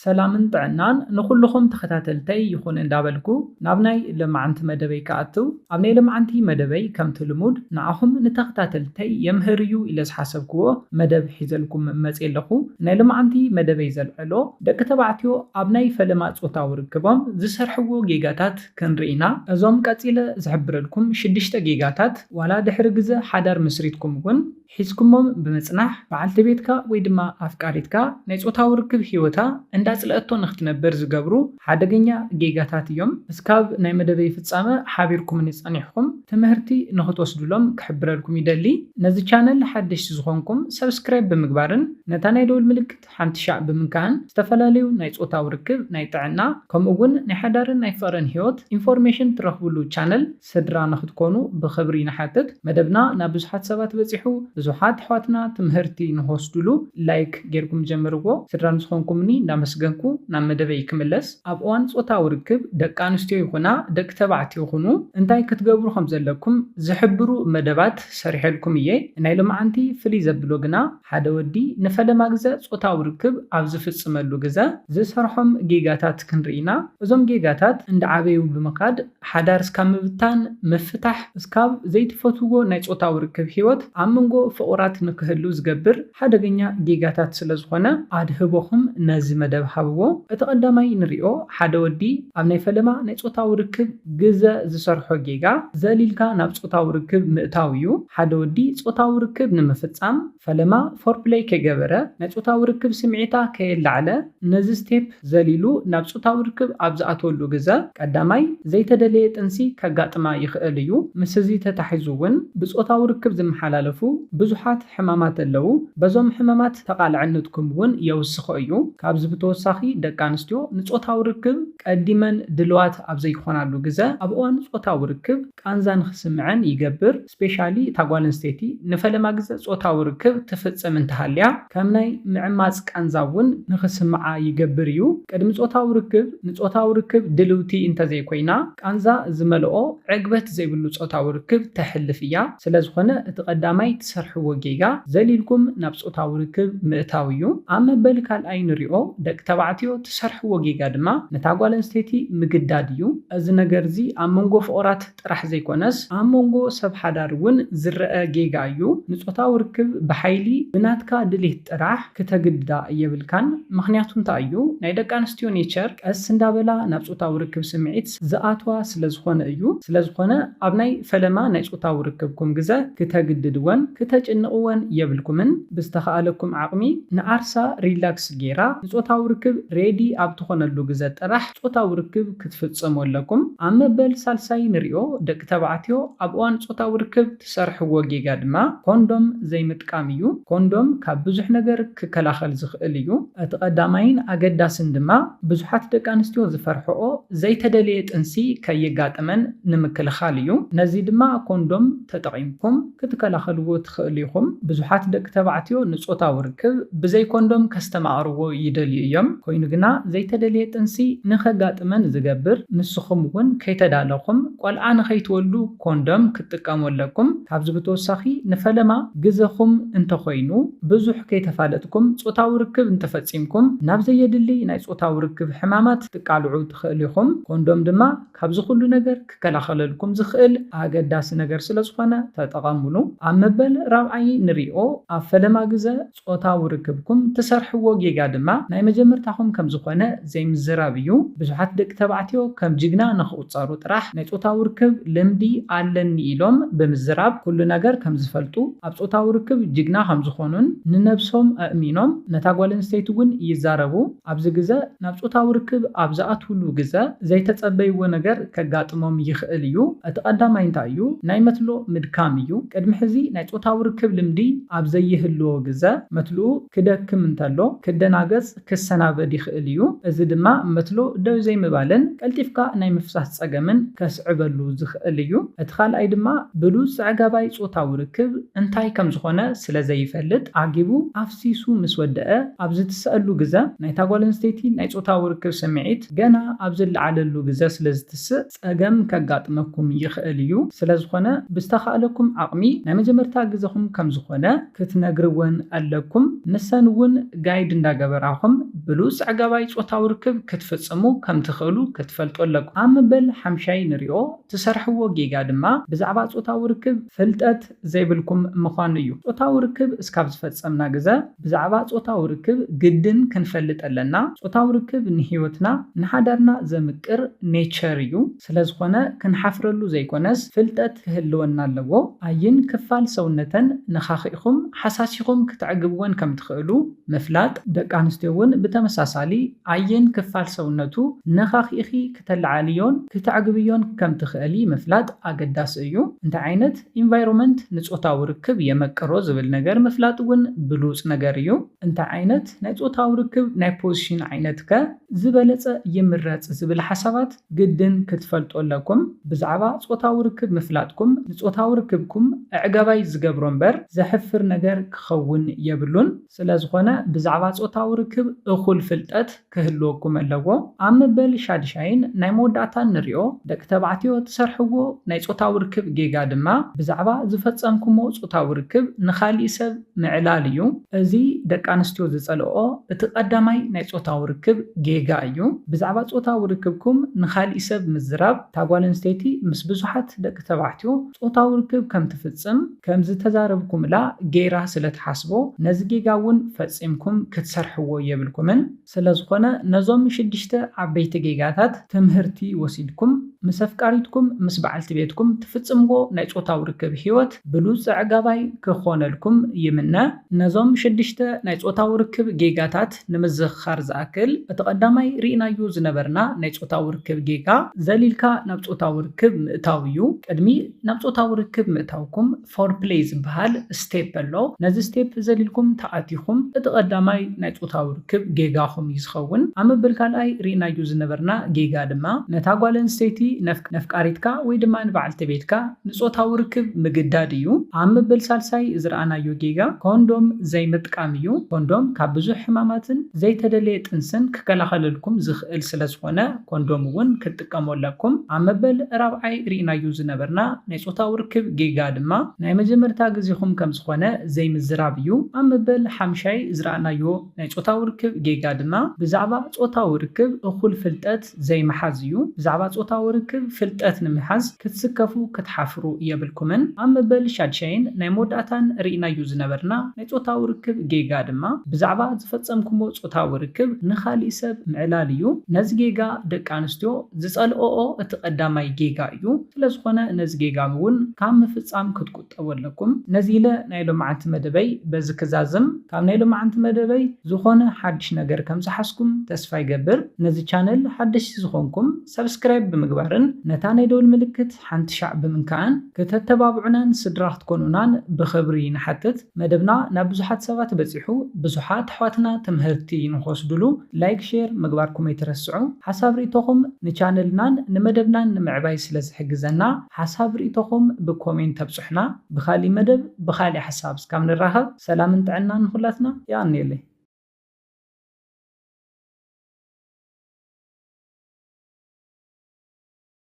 ሰላምን ጥዕናን ንኹሉኹም ተኸታተልተይ ይኹን እንዳበልኩ ናብ ናይ ለማዓንቲ መደበይ ክኣትው ኣብ ናይ ለማዓንቲ መደበይ ከምቲ ልሙድ ንዓኹም ንተኸታተልተይ የምህር እዩ ኢለ ዝሓሰብክዎ መደብ ሒዘልኩም መጼ ኣለኹ ናይ ለማዓንቲ መደበይ ዘልዕሎ ደቂ ተባዕትዮ ኣብ ናይ ፈለማ ጾታዊ ርክቦም ዝሰርሕዎ ጌጋታት ክንርኢ ኢና እዞም ቀጺለ ዝሕብረልኩም ሽድሽተ ጌጋታት ዋላ ድሕሪ ግዘ ሓዳር መስሪትኩም እውን ሒዝኩሞም ብምጽናሕ በዓልቲ ቤትካ ወይ ድማ ኣፍቃሪትካ ናይ ጾታዊ ርክብ ህይወታ እንዳጽልኣቶ ንኽትነብር ዝገብሩ ሓደገኛ ጌጋታት እዮም። እስካብ ናይ መደበይ ፍጻመ ሓቢርኩምኒ ጸኒሕኹም ትምህርቲ ንኽትወስድሎም ክሕብረልኩም ይደሊ። ነዚ ቻነል ሓደሽቲ ዝኾንኩም ሰብስክራይብ ብምግባርን ነታ ናይ ደውል ምልክት ሓንቲ ሻዕ ብምንካእን ዝተፈላለዩ ናይ ጾታዊ ርክብ፣ ናይ ጥዕና ከምኡ ውን ናይ ሓዳርን ናይ ፍቕርን ህይወት ኢንፎርሜሽን ትረኽብሉ ቻነል ስድራ ንክትኮኑ ብክብሪ ንሓትት መደብና ናብ ብዙሓት ሰባት በጺሑ ብዙሓት ኣሕዋትና ትምህርቲ ንክወስድሉ ላይክ ጌርኩም ጀምርዎ ስድራ ንዝኮንኩምኒ እንዳመስገንኩ ናብ መደበይ ክምለስ ኣብ እዋን ጾታዊ ርክብ ደቂ ኣንስትዮ ይኩና ደቂ ተባዕትዮ ኩኑ እንታይ ክትገብሩ ከምዘለኩም ዝሕብሩ መደባት ሰሪሐልኩም እየ ናይ ሎምዓንቲ ፍልይ ዘብሎ ግና ሓደ ወዲ ንፈለማ ግዘ ጾታዊ ርክብ ኣብ ዝፍጽመሉ ግዘ ዝሰርሖም ጌጋታት ክንርኢ ኢና እዞም ጌጋታት እንዳዓበዩ ብምካድ ሓዳር እስካብ ምብታን፣ ምፍታሕ፣ እስካብ ዘይትፈትውዎ ናይ ጾታዊ ርክብ ሂወት ኣብ ምንጎ ፍቑራት ንክህሉ ዝገብር ሓደገኛ ጌጋታት ስለ ዝኾነ ኣድህቦኹም ነዚ መደብ ሃብዎ። እቲ ቀዳማይ ንሪኦ ሓደ ወዲ ኣብ ናይ ፈለማ ናይ ጾታዊ ርክብ ግዘ ዝሰርሖ ጌጋ ዘሊልካ ናብ ጾታዊ ርክብ ምእታው እዩ። ሓደ ወዲ ጾታዊ ርክብ ንምፍጻም። ፈለማ ፎርፕለይ ከይገበረ ናይ ጾታዊ ርክብ ስምዒታ ከየላዕለ ነዚ ስቴፕ ዘሊሉ ናብ ጾታዊ ርክብ ኣብ ዝኣትወሉ ግዘ ቀዳማይ ዘይተደለየ ጥንሲ ከጋጥማ ይኽእል እዩ። ምስዚ ተታሒዙ እውን ብጾታዊ ርክብ ዝመሓላለፉ ብዙሓት ሕማማት ኣለው። በዞም ሕመማት ተቓላዕነትኩም እውን የውስኾ እዩ። ካብዚ ብተወሳኺ ደቂ ኣንስትዮ ንጾታዊ ርክብ ቀዲመን ድልዋት ኣብ ዘይኾናሉ ግዘ ኣብ እዋን ጾታዊ ርክብ ቃንዛ ንኽስምዐን ይገብር። ስፔሻሊ እታ ጓል ኣንስተይቲ ንፈለማ ግዘ ፆታዊ ርክብ ትፍፅም እንተሃልያ ከም ናይ ምዕማፅ ቃንዛ እውን ንክስምዓ ይገብር እዩ። ቅድሚ ፆታዊ ርክብ ንፆታዊ ርክብ ድልውቲ እንተዘይኮይና ቃንዛ ዝመልኦ ዕግበት ዘይብሉ ፆታዊ ርክብ ተሕልፍ እያ። ስለዝኾነ እቲ ቀዳማይ ትሰርሕዎ ጌጋ ዘሊልኩም ናብ ፆታዊ ርክብ ምእታው እዩ። ኣብ መበል ካልኣይ ንሪኦ ደቂ ተባዕትዮ ትሰርሕዎ ጌጋ ድማ ነታ ጓል ኣንስተይቲ ምግዳድ እዩ። እዚ ነገር እዚ ኣብ መንጎ ፍቑራት ጥራሕ ዘይኮነስ ኣብ መንጎ ሰብ ሓዳር እውን ዝረኣ ጌጋ እዩ። ንጾታዊ ርክብ ብሓይሊ ብናትካ ድሌት ጥራሕ ክተግድዳ የብልካን ምኽንያቱ እንታይ እዩ ናይ ደቂ ኣንስትዮ ኔቸር ቀስ እንዳበላ ናብ ጾታዊ ርክብ ስምዒት ዝኣትዋ ስለ ዝኾነ እዩ ስለ ዝኾነ ኣብ ናይ ፈለማ ናይ ጾታዊ ርክብኩም ግዘ ክተግድድወን ክተጭንቕወን የብልኩምን ብዝተኻኣለኩም ዓቕሚ ንዓርሳ ሪላክስ ጌራ ንጾታዊ ርክብ ሬዲ ኣብ ትኾነሉ ግዘ ጥራሕ ጾታዊ ርክብ ክትፍጽሙ ኣለኩም። ኣብ መበል ሳልሳይ ንሪኦ ደቂ ተባዕትዮ ኣብ እዋን ጾታዊ ርክብ ትሰርሕዎ ጌጋ ድማ ኮንዶም ዘይምጥቃም እዩ። ኮንዶም ካብ ብዙሕ ነገር ክከላኸል ዝኽእል እዩ። እቲ ቀዳማይን ኣገዳስን ድማ ብዙሓት ደቂ ኣንስትዮ ዝፈርሕኦ ዘይተደልየ ጥንሲ ከየጋጥመን ንምክልኻል እዩ። ነዚ ድማ ኮንዶም ተጠቒምኩም። ክትከላኸልዎ ትኽእሉ ኢኹም። ብዙሓት ደቂ ተባዕትዮ ንጾታዊ ርክብ ብዘይ ኮንዶም ከስተማቕርዎ ይደልዩ እዮም፣ ኰይኑ ግና ዘይተደልየ ጥንሲ ንኸጋጥመን ዝገብር፣ ንስኹም እውን ከይተዳለኹም ቈልዓ ንኸይትወልዱ ኮንዶም ክትጥቀሙ ኣለኩም። ካብዚ ብተወሳኺ ንፈለማ ግዘኹም እንተዀይኑ፣ ብዙሕ ከይተፋለጥኩም ጾታዊ ርክብ እንተፈጺምኩም ናብ ዘየድሊ ናይ ጾታዊ ርክብ ሕማማት ክትቃልዑ ትኽእሉ ኢኹም፣ ኮንዶም ድማ ካብዚ ኩሉ ነገር ክከላኸለልኩም ዝኽእል ኣገዳሲ ነገር ስለ ዝኾነ ተጠቐምሉ። ኣብ መበል ራብዓይ ንሪኦ፣ ኣብ ፈለማ ግዘ ፆታዊ ርክብኩም ትሰርሕዎ ጌጋ ድማ ናይ መጀመርታኹም ከም ዝኾነ ዘይምዝራብ እዩ። ብዙሓት ደቂ ተባዕትዮ ከም ጅግና ንኽቑፀሩ ጥራሕ ናይ ፆታዊ ርክብ ልምዲ ኣለኒ ኢሎም ብምዝራብ ኩሉ ነገር ከም ዝፈልጡ፣ ኣብ ፆታዊ ርክብ ጅግና ከም ዝኾኑን ንነብሶም ኣእሚኖም ነታ ጓል ኣንስተይቲ እውን ይዛረቡ። ኣብዚ ግዘ ናብ ፆታዊ ርክብ ኣብ ዝኣትውሉ ግዘ ዘይተፀበይዎ ነገር ከጋጥሞም ይኽእል እዩ። እቲ ቀዳማይ እንታይ እዩ? ናይ መትሎ ምድካም እዩ። ቅድሚ ሕዚ ናይ ፆታዊ ርክብ ልምዲ ኣብ ዘይህልዎ ግዘ መትልኡ ክደክም እንተሎ ክደናገፅ፣ ክሰናበድ፣ ይኽእል እዩ። እዚ ድማ መትሎ ደው ዘይምባልን ቀልጢፍካ ናይ ምፍሳስ ፀገምን ከስዕበሉ ዝኽእል እዩ። እቲ ካልኣይ ድማ ብሉፅ ኣዕጋባይ ፆታዊ ርክብ እንታይ ከምዝኾነ ስለዘይፈልጥ ዓጊቡ ተሓሲሱ ምስ ወደኣ ኣብ ዝትሰኣሉ ግዘ ናይታ ጓል ኣንስተይቲ ናይ ፆታዊ ርክብ ስምዒት ገና ኣብ ዝለዓለሉ ግዘ ስለ ዝትስእ ፀገም ከጋጥመኩም ይኽእል እዩ። ስለ ዝኾነ ብዝተኻእለኩም ዓቕሚ ናይ መጀመርታ ግዘኹም ከም ዝኾነ ክትነግርወን ኣለኩም። ንሰን እውን ጋይድ እንዳገበራኹም ብሉፅ ኣዕጋባይ ፆታዊ ርክብ ክትፍፅሙ ከም ትኽእሉ ክትፈልጡ ኣለኩም። ኣብ መበል ሓምሻይ ንሪኦ ትሰርሕዎ ጌጋ ድማ ብዛዕባ ፆታዊ ርክብ ፍልጠት፣ ዘይብልኩም ምዃኑ እዩ። ጾታዊ ርክብ እስካብ ዝፈጸምና ግዘ ብዛዕባ ጾታዊ ርክብ ግድን ክንፈልጥ ኣለና። ጾታዊ ርክብ ንህይወትና ንሓዳርና ዘምቅር nature እዩ። ስለዝኾነ ክንሓፍረሉ ዘይኮነስ ፍልጠት ክህልወና ኣለዎ። ኣይን ክፋል ሰውነተን ነኻኺእኹም ሓሳሲኹም ክተዕግብወን ከምትኽእሉ ምፍላጥ። ደቂ ኣንስትዮ እውን ብተመሳሳሊ ኣይን ክፋል ሰውነቱ ነኻኺእኺ ክተለዓልዮን ክተዕግብዮን ከም ትኽእሊ ምፍላጥ ኣገዳሲ እዩ። እንታይ ዓይነት ኢንቫይሮመንት ንጾታዊ ርክብ የመቅሮ ዝብል ነገር ምፍላጥ እውን ብሉጽ ነገር እዩ። እንታይ ዓይነት ናይ ጾታዊ ርክብ ናይ ፖዚሽን ዓይነት ከ ዝበለጸ ይምረጽ ዝብል ሓሳባት ግድን ክትፈልጡ ኣለኩም። ብዛዕባ ጾታዊ ርክብ ምፍላጥኩም ንጾታዊ ርክብኩም ኣዕጋባይ ዝገብሮ እምበር ዘሕፍር ነገር ክኸውን የብሉን። ስለዝኾነ ብዛዕባ ጾታዊ ርክብ እኹል ፍልጠት ክህልወኩም ኣለዎ ኣብ መበል ሻድሻይን ናይ መወዳእታን ንሪኦ ደቂ ተባዕትዮ ትሰርሕዎ ናይ ጾታዊ ርክብ ጌጋ ድማ ብዛዕባ ዝፈጸምኩሞ ጾታዊ ርክብ ንኻሊእ ሰብ ምዕላል እዩ እዚ ደቂ ኣንስትዮ ዝጸልኦኦ እቲ ቀዳማይ ናይ ጾታዊ ርክብ ጌጋ እዩ ብዛዕባ ጾታዊ ርክብኩም ንኻሊእ ሰብ ምዝራብ እታ ጓል ኣንስተይቲ ምስ ብዙሓት ደቂ ተባዕትዮ ጾታዊ ርክብ ከምትፍጽም ከም ዝተዛረብኩምላ ገይራ ስለ ትሓስቦ ነዚ ጌጋ እውን ፈጺምኩም ክትሰርሕዎ የብልኩምን። ስለ ዝኾነ ነዞም ሽድሽተ ዓበይቲ ጌጋታት ትምህርቲ ወሲድኩም ምስ ኣፍቃሪትኩም ምስ በዓልቲ ቤትኩም ትፍጽምዎ ናይ ጾታዊ ርክብ ህይወት ብሉጽ ኣዕጋባይ ክኾነልኩም ይምነ። ነዞም ሽድሽተ ናይ ጾታዊ ርክብ ጌጋታት። ንምዝኽኻር ዝኣክል፣ እቲ ቀዳማይ ርኢናዮ ዝነበርና ናይ ጾታዊ ርክብ ጌጋ፣ ዘሊልካ ናብ ጾታዊ ርክብ ምእታው እዩ። ቅድሚ ናብ ጾታዊ ርክብ ምእታውኩም ፎርፕለይ ዝበሃል ስቴፕ ኣሎ። ነዚ ስቴፕ ዘሊልኩም ተኣቲኹም፣ እቲ ቀዳማይ ናይ ጾታዊ ርክብ ጌጋኹም እዩ ዝኸውን። ኣብ መበል ካልኣይ ርኢናዮ ዝነበርና ጌጋ ድማ፣ ነታ ጓል ኣንስተይቲ ነፍቲ። ነፍቃሪትካ ወይ ድማ ንበዓልቲ ቤትካ ንጾታዊ ርክብ ምግዳድ እዩ። ኣብ መበል ሳልሳይ ዝረኣናዮ ጌጋ ኮንዶም ዘይምጥቃም እዩ። ኮንዶም ካብ ብዙሕ ሕማማትን ዘይተደለየ ጥንስን ክከላኸለልኩም ዝኽእል ስለ ዝኾነ ኮንዶም እውን ክትጥቀሙ ኣለኩም። ኣብ መበል ራብዓይ ሪእናዮ ዝነበርና ናይ ጾታዊ ርክብ ጌጋ ድማ ናይ መጀመርታ ግዜኹም ከም ዝኾነ ዘይምዝራብ እዩ። ኣብ መበል ሓምሻይ ዝረኣናዮ ናይ ጾታዊ ርክብ ጌጋ ድማ ብዛዕባ ጾታዊ ርክብ እኹል ፍልጠት ዘይምሓዝ እዩ። ብዛዕባ ጾታዊ ርክብ ፍልጠት ንምሓዝ ክትስከፉ ክትሓፍሩ የብልኩምን። ኣብ መበል ሻድሻይን ናይ መወዳእታን ርኢናዮ ዝነበርና ናይ ጾታዊ ርክብ ጌጋ ድማ ብዛዕባ ዝፈጸምኩሞ ጾታዊ ርክብ ንኻሊእ ሰብ ምዕላል እዩ። ነዚ ጌጋ ደቂ ኣንስትዮ ዝጸልኦኦ እቲ ቀዳማይ ጌጋ እዩ። ስለዝኾነ ነዚ ጌጋምውን ካብ ምፍጻም ክትቁ። ጠወለኩም። ነዚ ኢለ ናይ ሎምዓንቲ መደበይ በዚ ክዛዝም ካብ ናይ ሎምዓንቲ መደበይ ዝኮነ ሓድሽ ነገር ከም ዝሓዝኩም ተስፋ ይገብር ነዚ ቻነል ሓደሽቲ ዝኮንኩም ሳብስክራይብ ብምግባርን ነታ ናይ ደውል ምልክት ሓንቲ ሻዕ ብምንካእን ክተተባብዑናን ስድራ ክትኮኑናን ብክብሪ ንሓትት መደብና ናብ ብዙሓት ሰባት በጺሑ ብዙሓት ኣሕዋትና ትምህርቲ ንክወስድሉ ላይክ ሼር ምግባርኩም ኣይትረስዑ ሓሳብ ሪኢቶኩም ንቻነልናን ንመደብናን ንምዕባይ ስለ ዝሕግዘና ሓሳብ ሪኢቶኹም ብኮሜንት ተብጹሑና ብካሊእ መደብ ብካሊእ ሓሳብ እስካብ ንራኸብ ሰላምን ጥዕናን ንኹላትና የቀንየለይ።